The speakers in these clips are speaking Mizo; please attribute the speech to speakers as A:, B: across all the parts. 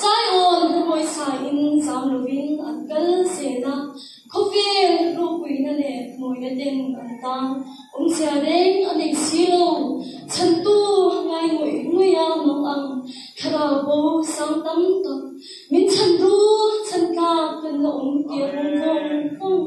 A: Zion Khuabawi saiin zam lovin an kal zel a, khawvel rophuina leh hnuaia ten an tang. Awmzia reng a nei si lo, chhantu ngai ngawih ngawia mang ang thlarau bo sang tam tak min chhan ru, chhan tlak kan la awm tia hmang vawng vawng.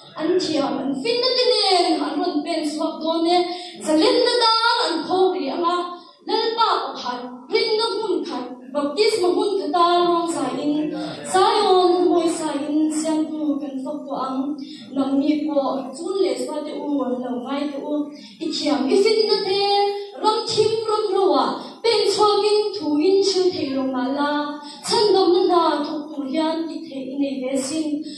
A: An thiam, an finna te nen an rawn pen chhuak dawn e, zalenna dan an khawm rih ang a, Lalpa pakhat hrilna hmun khat baptisma hmun khata luang zaiin Zion huawi saiin siamtu kan fak tawh ang. Nang mi pawh chun leh suate u, lo ngai teh u, i thiam i finna te ram thim ram roah pen chhuakin thu in hrilh theih lo mah la, chhandamna hna thawk tur hian ti theih i nei ve sin.